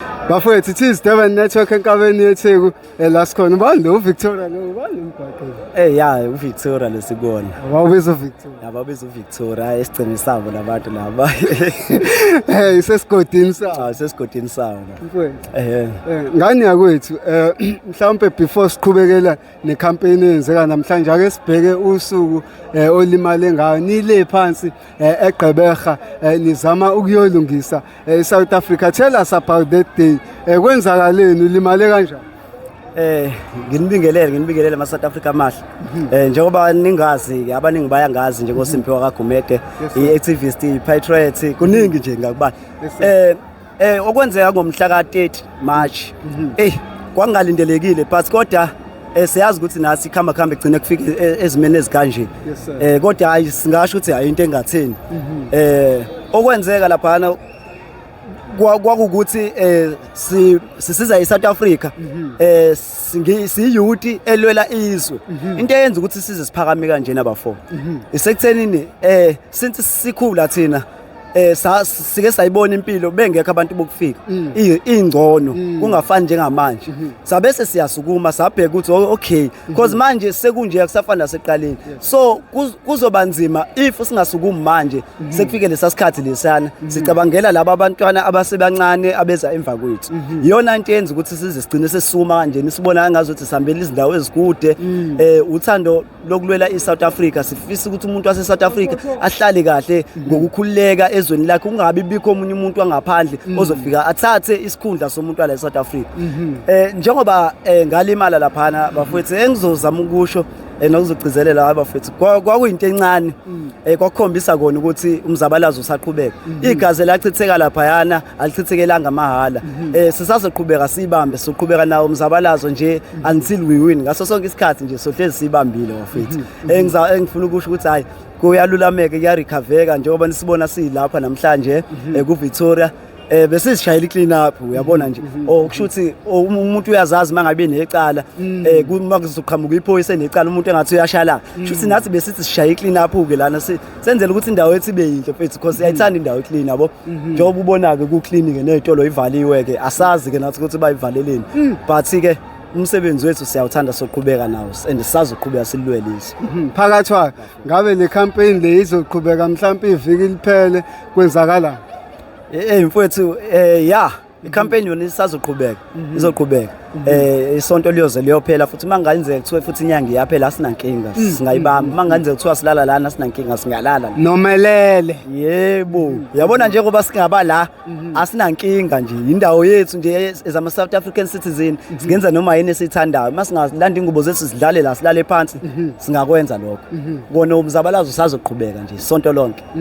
bafowethu it is durban network enkabeni yetheku eh, la sikhona ubani lo uvictoria lo ubani lo mgwaqo Eh ya uVictoria lesikona. wawubiza uvictoria Laba biza uVictoria esigcini sabo labantu laba. hey isesigodini sa Cha sesigodini sawo. mfowethu Eh Eh, ngani yakwethu eh mhlawumbe before siqhubekela necampaign eyenzeka namhlanje ake sibheke usuku eh, olimale ngayo nile phansi eh, egqeberha eh, nizama ukuyolungisa Eh South Africa tell us about that day. Eh kwenzakaleni ulimale kanjani? Eh nginibingelele nginibingelele ama South Africa amahle. Mhm. Eh njengoba ningazi abaningi bayangazi nje ngoSimphiwe mhm. kaGumede, iActivist, iPatriot, kuningi nje ngakubala. Eh eh okwenzeka ngomhla ka 30 March. Mhm. Eh kwangalindelekile but kodwa Eh siyazi ukuthi nathi khamba khamba egcine kufika e, e, ezimeni ezikanje. Eh kodwa hayi singasho ukuthi hayi into engatheni. Mhm. Eh okwenzeka laphana kwakukuthi eh sisiza iSouth Africa mhm. eh siyiyuti elwela izwe mhm. into eyenza ukuthi size siphakame kanje nabafo isekuthenini eh since sikhula thina eh sa- sike sayibona impilo bengekho abantu bokufika Mm. I- ingcono kungafani njengamanje Mm-hmm. sabe sesiyasukuma sabheka ukuthi o- okay because manje sekunje akusafani naseqaleni so kuz- kuzoba nzima if singasukumi manje Mm-hmm. sekufike lesasikhathi lesana sicabangela laba abantwana abasebancane abeza emva kwethu Mm-hmm. iyona into yenza ukuthi size sigcine sesisuma kanjena sibona ngazuthi sihambela izindawo ezikude Mm. eh uthando lokulwela iSouth Africa sifisa ukuthi umuntu wase South Africa ahlale kahle ngokukhululeka ezweni lakhe kungabi bikho omunye umuntu wangaphandle mm. ozofika athathe isikhundla somuntu wale South Africa mhm. eh njengoba eh, ngalimala laphana bafethu engizozama eh, ukusho eh, nokuzogcizelela abafethu kwakuyinto encane mm. eh kwakhombisa kona ukuthi umzabalazo usaqhubeka mm-hmm. igazi lachitheka lapha yana alichithekelanga mahhala mhm. eh sisazoqhubeka sibambe soqhubeka nawo umzabalazo nje mhm. until we win ngaso sonke isikhathi nje sohlezi sibambile wafethu mhm. engiza eh, engifuna ukusho ukuthi hayi kuyalulameke kuyarecovereka njengoba nisibona silapha namhlanje eh, ku Victoria eh bese sishayela iclean up uyabona nje mhm. oh kusho ukuthi oh, um, umuntu uyazazi mangabe necala mm. eh uma kuzoqhamuka iphoyisa necala umuntu engathi uyashala kusho ukuthi mm. nathi besithi sishayela iclean up ke lana senzela ukuthi indawo yethu ibe yinhle mfethu because siyayithanda indawo iclean yabo mhm. njengoba ubona-ke kuclean-ke ney'tolo ivaliwe-ke asazi-ke nathi ukuthi bayivaleleni mm. but-ke umsebenzi wethu siyawuthanda soqhubeka nawo and sisazoqhubeka silulwele izwe mhm. phakathwa ngabe le campaign le izoqhubeka mhlawumpe iviki liphele kwenzakalani eyi mfowethu um ya ikhampeni yona isazoqhubeka mhm. izoqhubeka mhm. eh isonto liyoze liyophela futhi mangayenzeka kuthiwe futhi inyanga iyaphela asinankinga mm, singayibamba mm, mm. mangayenzeka kuthiwa silala lana asinankinga singalala nomelele yebo yabona nje ngoba singaba la mhm. asinankinga nje indawo yethu nje ezama South African citizen singenza noma yini esithandayo masingalanda ingubo zethu sidlale la silale phansi singakwenza lokho kona umzabalazo usazoqhubeka nje isonto lonke